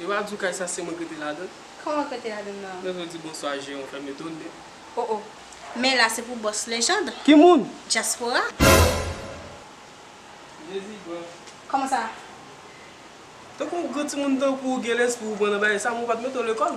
Yo pa diw kay sa se mwen ki rete ladann. Koman ki rete ladann nan? Lè yo di bonswa jeran ou fèm etone. Oh oh. Men la se pou boss Legendre. Ki moun? Diaspora. Jezi gran. Koman sa? Tankou yon gran timoun tankou ou gen lespri ou pran nan bagay sa men ou pat mete w lekòl.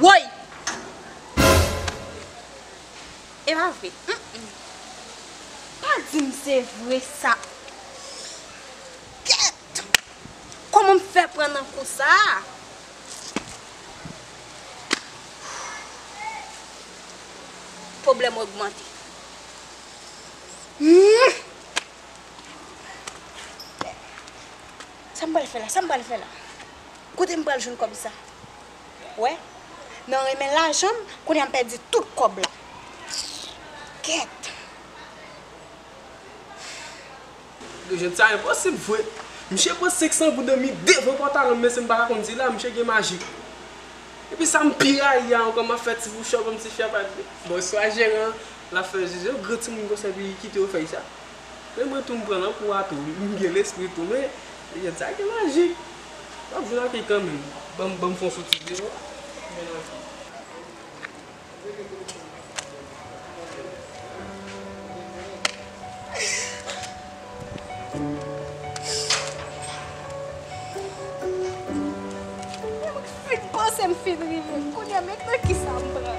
Woy! E pa vre. Humm. Pa di m se vre sa. Kèt! Kòman m fè pran nan kou sa a? Pwoblèm ogmante. Humm. Sa m pral fè la? Sa m pral fè la? Kote m pral jwenn kòb sa. Wè Nan renmen lajan m kounye a m pèdi tout kòb la kèt. Jwèt sa enposib vre. Misye pran 500 gouden mi devan pantalon m menm si m pa ta konn sila misye gen maji. Epi sa m pi rayi a ankò m ap fè ti pouchòp m ti fyèp ak li. Bonswa jeran an l ap fè zizi yo gran timoun konsa epi li kite yo fè sa. Men mwen tou m pran nan kou a tou m gen lespri tou men jwèt sa gen maji. Map jwe rapid kanmenm. Banm banm fon sou ti zero. Mwen rapid. Mwen panse m fin rive. Kounya men nan kisa m pran.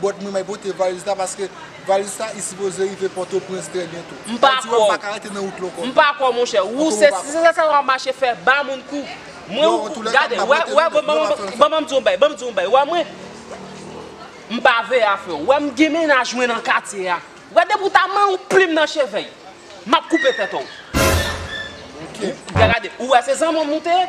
But mwen may pote valiz la paske valiz sa i sipoze rive potoprens trè byento. M pa kwè w. M pa kwè w monchè. Ou se sa sa wap mache fè ba moun kou. Mwen ou kou. Gade wè wè wè ban banm di w yon bagay banm di w yon bagay wè mwen. M pa veye afè w. Wè m gen mennaj mwen nan katye a. Wè depi w ta man yon plim nan cheve y. Map koupe tèt ou. Gade ou wè se zanman m nou te ye.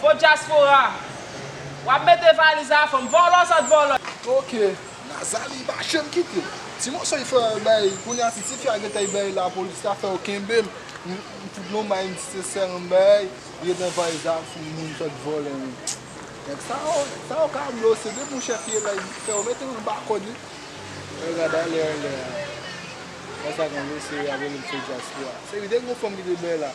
Bon dyaspora. Wap mete valiz a fanm. Vòlò sòt vòlò. Ok Nazali li pa janm kite. Ti moso li fè bay kounya si tifi a gentan li bay lapolis la fè yo kenbem m fout non may m si se sè m bay li gen tan valiz la fout moun sòt vòlè men nèg sa yo nèg sa yo ka blofè se depi yon chèf ye bay fè yo mete yo anba kòd wi nèg la bay lè a lè a. Konsa konn yo se yap rele m se dyaspora se li te gen yon fanm ki te bay la.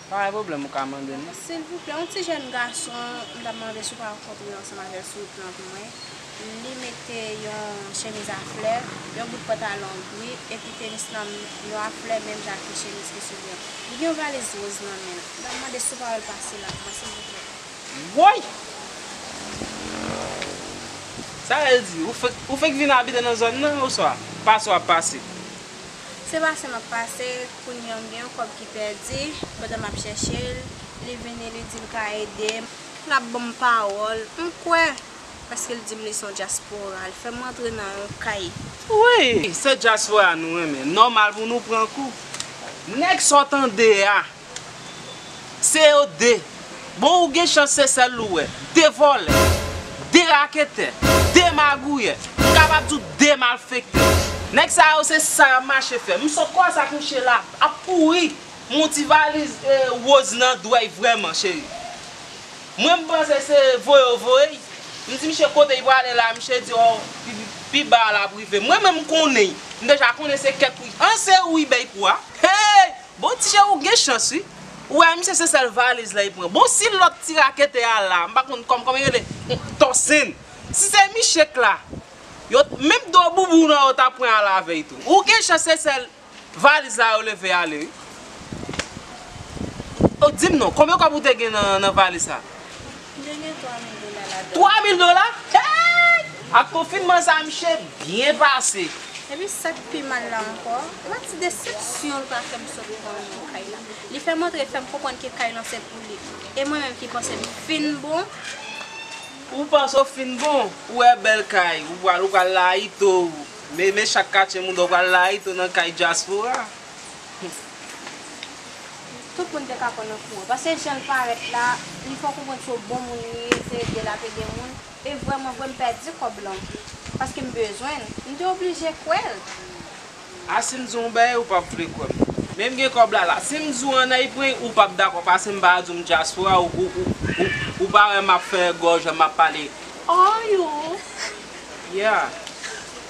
Pa gen pwoblèm ou ka mandem. Silvouplè yon ti jèn gason m tap mande si w pa rankontre ansanm avèl sou wout lan pou mwen li mete yon chemiz a flè yon bout pantalon gri epi tenis nan yo a flè menm jan ak ti chemiz ki sou li an li gen yon valiz roz nan menl m tap mande si w pa wèl pase la pou mwen silvouplè. Woy! Sa vle di ou fenk vin abite nan zòn nan oswa pase wap pase? Se pase map pase, kounyam gen yon kòb ki pèdi, pandan map chèchel, li vini li dim ka edem, lap banm pawòl, m kwè, paskel dim li son dyaspora, l fèm rantre nan yon kay. Wi, se dyaspora nou renmen, nòmal pou nou pran kou. Nèg sa w tande a, Se yo 2. Bon ou gen chans se sèl ou wè. 2 vòlè. 2 raketè. 2 magouyè. M kapab di w 2 malfektè. Nèg sa yo se sa y ap mache fè. M sot kwaze ak mouche la ap kouri. M wè yon ti valiz woz nan dwèy vrèman cheri. Mwen m panse se voye yo voye y. M di mouche kote y prale la mouche di ò pi ba a l ap rive. Mwen menm m konnen y. M deja konnen se kèk wi. An se ou wi bèy pou a. Hey! Bon tije ou gen chans wi. Ou wè misye se sèl valiz la li pran. Bon si lòt ti raketè a la, m pa konn kòman li rele, Tòsin. Si se Michek la, yo t, menm do boubou w nan yo ta pran al avè y tou. Ou gen chans se sèl valiz la yo leve ale wi. O di m non, konbyen kòb ou te gen nan valiz sa? Ki te gen 3000 dola ladann. 3000 dola? Hey! Ak konfinman sa a miche byen pase. Epi sa k pi mal la ankò, la ti desepsyon l pa fè m sot pran l nan kay la. Li fè m antre l fè m konprann ke kay lan se pou li. E mwen menm ki panse m fin bon. Ou panse w fin bon? Ou wè bèl kay, ou pral ou pral layite w. Meme chak katye moun dò pral layite w nan kay dyaspora. Tout moun te ka pran nan kou an. Pase janl parèt la, li fè w konprann se yon bon moun li ye, se ede lap ede moun. E vrèman vre m pèdi kòb lan. Paske m bezwen l. M te oblije kwè l. A si m di w yon bagay ou pap vle kwè m. Men m gen kòb la la. Si m di w an Ayipwen ou pap dakò pase m pa di w m dyaspora ou pa wè map fè gòj map pale. Are you? Yeah.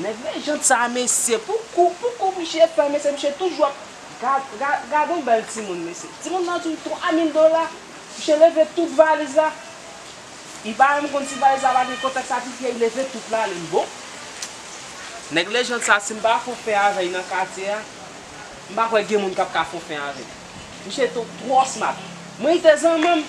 Nèg mechan sa mesye pou kou pou kou misye pran mesye misye toujou ap gad yon bèl timoun mesye timoun nan di 3 mil dola misye leve tout valiz la li pa menm konn si valiz la pa gen kontèks a pi pye li leve tout la li bon nèg lejand sa si m pa fon fè avè l nan katye a m pa kwè gen moun kap ka fon fè avè l misye twò smat mwen rete zanman m.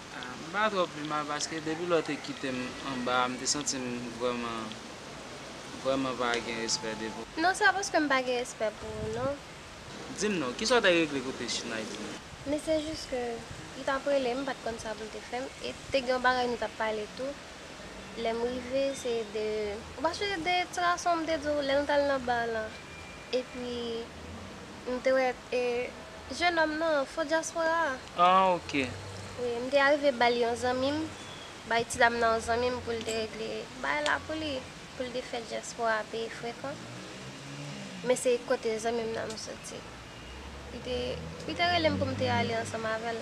M pa twò pi mal paske depi lè w te kite m anba a m te santi m vrèman vrèman pa gen respè de pou. Non se pa paske m pa gen respè pou ou non. Di m non, kisa w te regle kote Chinay di m. Men se jis ke li t ap rele m m pa t konn sa pou l te fè m e te gen yon bagay nou t ap pale tou lè m rive se de ou pa sonje de ti gason m te di w lè nou t al nan bar lan epi m te wè E jenòm nan fo dyaspora a? Ah ok. Wi, m te arive ba l yon zanmi m, bay ti dam nan yon zanmi m pou l te regle bagay la pou li, pou l te fè dyaspora a peye frekan. Men se kote zanmi m nan m soti. Li te, li te rele m pou m te ale ansanm avè l.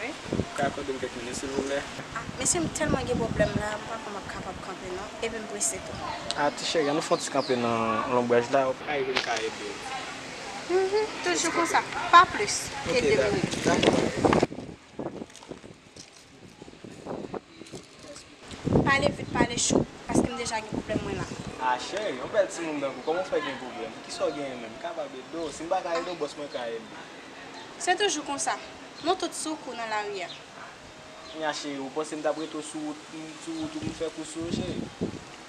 Wi. Ou ka akòdem kèk minit silvouplè? Ah mesye m tèlman gen pwoblèm la m pa kwè map kapab kanpe non epi m prese tou. Ah ti cheri an nou fè yon ti kanpe nan lonbraj la ok. Ka rive m ka edew. Mph toujou konsa pa plis ke 2 minit. Ok dakò. Pale vit pale cho paske m deja gen pwoblèm mwen la. A cheri, yon bèl timoun tankou w kòman w fè gen pwoblèm? Kisa w genyen menm? M kapab ede w? Si m pa ka ede w, bòs mwen ka ede w. Se toujou konsa, nou tout sou kou nan lari a. Kounya cheri, ou panse m t ap rete w sou wout ou pou m fè kou sou ou cheri?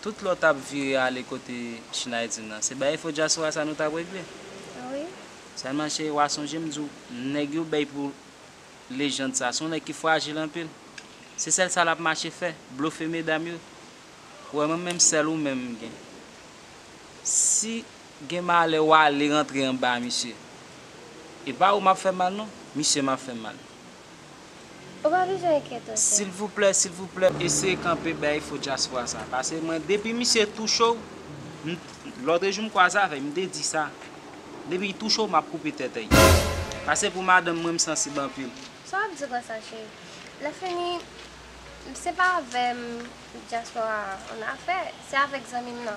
Tout lòt ap vire ale kote Schneiden nan. Se baye fo dyaspora sa nou tap regle. Sèlman cheri wa sonje m di w nèg yo bèy pou lejand sa se yon nèg ki frajil anpil. Se sèl sa lap mache fè, blofe medam yo. Ou wè mwen menm sèl ou menm m gen. Si gen malè wale rantre anba misye. E pa ou map fè mal non, misye map fè mal. Ou pa bezwen enkyete ok. Silvouplè silvouplè eseye kanpe bay fo dyaspora sa pase mwen depi misye touche w m lotre jou m kwaze avè l m te di sa depi l touche w map koupe tete l pase pou madanm mwen m sansib anpil. Sa wap di konsa cheri. Lè fini se pa avèm dyaspora an afè se avèk zanmim nan.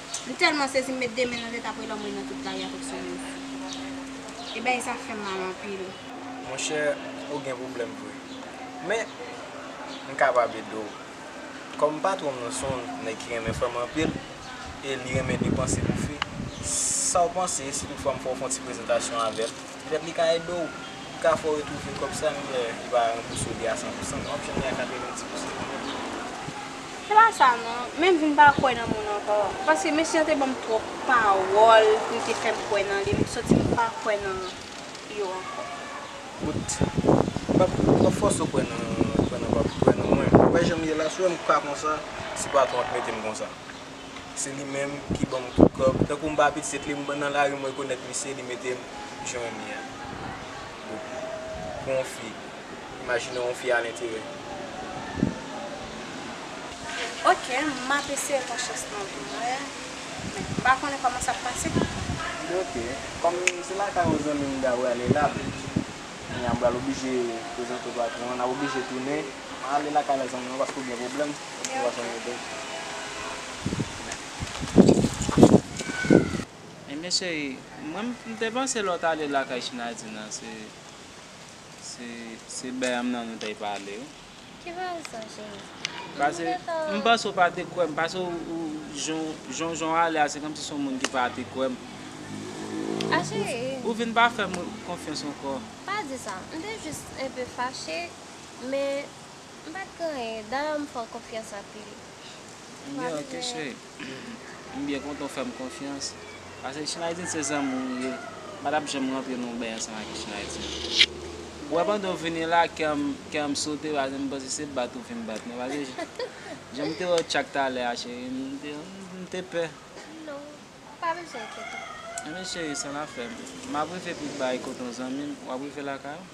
M tèlman sezi m met 2 men nan tèt apre lanmou nan tout bagay avèk son move vwa. E bagay sa fèm mal anpil. Monchè ou gen pwoblèm vre. Men m kapab ede w. Kòm patwon m nan son w nèg ki renmen fanm anpil e li renmen depanse pou fi, sa w panse si tout fwa m fè w fon ti prezantasyon avè l? Petèt li ka ede w, li ka fè w retwouve kòb sa men li pa ranbouse w li a 100 pou 100, wap jwenn li a 90 pou 100 men li Se pa sa non, men m vin pa kwè nan moun ankò, paske mesye an te banm twòp pawòl li te fè m kwè nan li, m santi m pa kwè nan yo ankò. Bout, m pap m pap fòse w kwè nan kwè nan pap kwè nan mwen, wè jan m ye la, si w wè m ka konsa, se patwon an k mete m konsa. se li menm ki ban mwen tout kòb, tankou m pa pitit li, m nan lari m rekonèt misye, li mete m jwenn li an. Bopi, pou yon fi, imajine yon fi al entere. Ok, m ap eseye pran chans nan vi mwen, men m pa konnen kòman sa p pase. Ok, kòm se lakay yon zanmi m ta prale la, kounya m pral oblije prezante w patwon an, n ap oblije tounen. Mwen ale lakay la zanmi mwen paske ou gen pwoblèm ou pa janm edem. Ebyen cheri mwen m te panse lè w t ale lakay Chinadi nan se se Bèyanm nan nou te pale wi. Ki rezon cheri? Pase m panse ou pa te kwè m pase ou jan jan w ale a se kòmsi se yon moun ki pa te kwè m. A cheri. Ou vin pa fè m konfyans ankò. Pa di sa. M te jis enpe fache. Men, m pa t genyen. Dayè m fè w konfyans anpil. M gen okenn cheri. M byen kontan w fè m konfyans. Pase Chinaydin se zanmi w ye. M pa t ap janm rantre nan yon beny ansanm ak Chinaydin. Ou wè pandan w vini la, kè a m sote pase m panse se bat ou vin bat mwen. Pase jan m te wè w tchak talè a cheri, m te pè. Non, ou pa bezwen enkyete w. Ebyen cheri, san lafè. M ap rive pi ba e kote yon zanmi m. W ap rive lakay ou?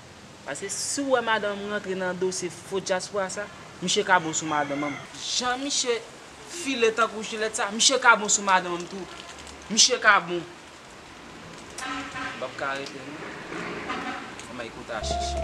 Paske si ou wè madan m rantre nan dosye fo dyaspora sa, miche ka bon sou madan m. Jan miche file tankou jilèt sa, miche ka bon sou madan m tou. Miche ka bon. M pap ka rete non. Anmay kota chichi.